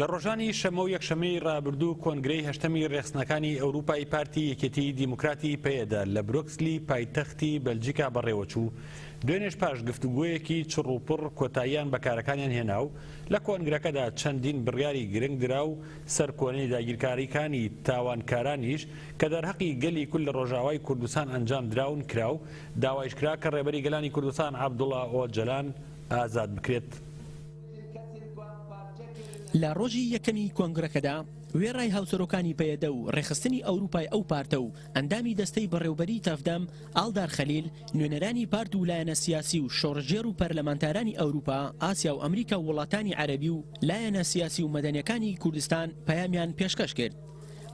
لە ڕۆژانی شەممە و یەکشەممەی ڕابردوو کۆنگرەی هەشتەمی ڕێخستنەکانی ئەوروپای پارتی یەکێتی دیموکراتی پەیەدە لە برۆکسلی پایتەختی بەلجیکا بەڕێوەچوو دوێنێش پاش گفتوگۆیەکی چڕ و پڕ کۆتاییان بە کارەکانیان هێنا و لە کۆنگرەکەدا چەندین بڕیاری گرنگ درا و سەرکۆنەی داگیرکاریکانی تاوانکارانیش کە دەرهەقی گەلی کورد لە ڕۆژاوای کوردستان ئەنجام دراون کرا و داوایش کرا کە ڕێبەری گەلانی کوردستان عەبدوڵا ئۆجەلان ئازاد بکرێت. لە ڕۆژی یەکەمی کۆنگرەکەدا، وێڕای هاوسەرۆکانی پەیەدە و ڕێکخستنی ئەوروپای ئەو پارتە و ئەندامی دەستەی بەڕێوبەریی تەڤدەم، ئاڵدار خەلیل، نوێنەرانی پارت و لایەنە سیاسی و شۆڕشگێڕ و پەرلەمانتارانی ئەوروپا، ئاسیا و ئەمریکا و وڵاتانی عەرەبی و لایەنە سیاسی و مەدەنیەکانی کوردستان پەیامیان پێشکەش کرد.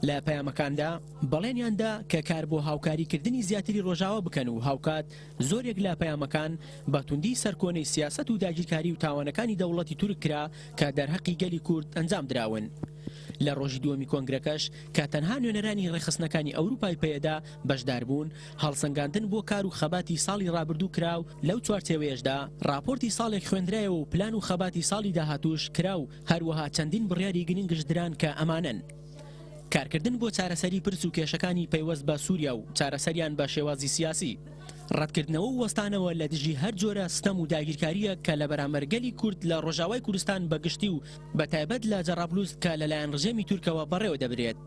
لە پەیامەکاندا بەڵێنیان دا کە کار بۆ هاوکاریکردنی زیاتری ڕۆژاوا بکەن و هاوکات زۆرێک لە پەیامەکان بە توندی سەرکۆنەی سیاسەت و داگیرکاری و تاوانەکانی دەوڵەتی تورک کرا کە دەرهەقی گەلی کورد ئەنجام دراون. لە ڕۆژی دووەمی کۆنگرەکەش کە تەنها نوێنەرانی ڕێکخستنەکانی ئەوروپای پەیەدە بەشدار بوون، هەڵسەنگاندن بۆ کار و خەباتی ساڵی ڕابردوو کرا و لەو چوارچێوەیەشدا ڕاپۆرتی ساڵێک خوێندرایەوە و پلان و خەباتی ساڵی داهاتووش کرا و هەروەها چەندین بڕیاری گرنگش دران کە ئەمانەن. کارکردن بۆ چارەسەری پرس و کێشەکانی پەیوەست بە سووریا و چارەسەریان بە شێوازی سیاسی، ڕەتکردنەوە و وەستانەوە لە دژی هەر جۆرە ستەم و داگیرکارییەک کە لە بەرامبەر گەلی کورد لە ڕۆژاوای کوردستان بە گشتی و بە تایبەت لە جەڕابلوس کە لەلایەن ڕژێمی تورکەوە بەڕێوە دەبرێت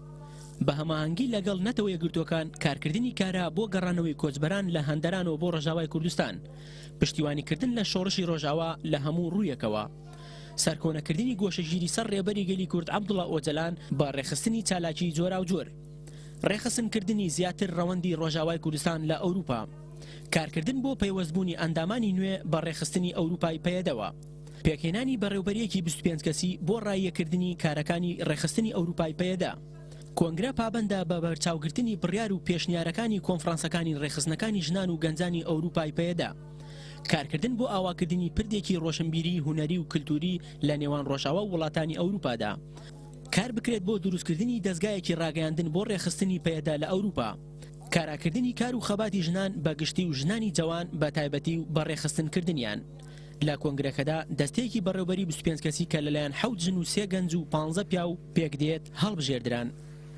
بە هەماهەنگی لەگەڵ نەتەوە یەکگرتووەکان کارکردنی کارا بۆ گەڕانەوەی کۆچبەران لە هەندەرانەوە بۆ ڕۆژاوای کوردستان پشتیوانیکردن لە شۆڕشی ڕۆژاوا لە هەموو ڕوویەکەوە. سەرکۆنەکردنی گۆشەگیری سەر ڕێبەری گەلی کورد عەبدوڵا ئۆجەلان بە ڕێکخستنی چالاکیی جۆراوجۆر. ڕێکخستنکردنی زیاتر ڕەوەندی ڕۆژاوای کوردستان لە ئەوروپا. کارکردن بۆ پەیوەستبوونی ئەندامانی نوێ بە ڕێکخستنی ئەوروپای پەیەدەوە. پێکهێنانی بەڕێوبەرییەکی بیست و پێنج کەسی بۆ ڕاییەکردنی کارەکانی ڕێکخستنی ئەوروپای پەیەدە. کۆنگرە پابەندە بە بەرچاوگرتنی بڕیار و پێشنیارەکانی کۆنفرانسەکانی ڕێکخستنەکانی ژنان و گەنجانی ئەوروپای پەیەدە. کارکردن بۆ ئاواکردنی پردێکی ڕۆشنبیری هونەری و کلتوری لە نێوان ڕۆژاوا و وڵاتانی ئەوروپادا کار بکرێت بۆ دروستکردنی دەزگایەکی ڕاگەیاندن بۆ ڕێکخستنی پەیەدە لە ئەوروپا کاراکردنی کار و خەباتی ژنان بە گشتی و ژنانی جەوان بە تایبەتی و بە ڕێکخستن کردنیان لە کۆنگرەکەدا دەستەیەکی بەڕێوبەری بیست و پێنج کەسی کە لەلایەن حەوت ژن و سێ گەنج و پانزە پیاو پێکدێت هەڵبژێردران.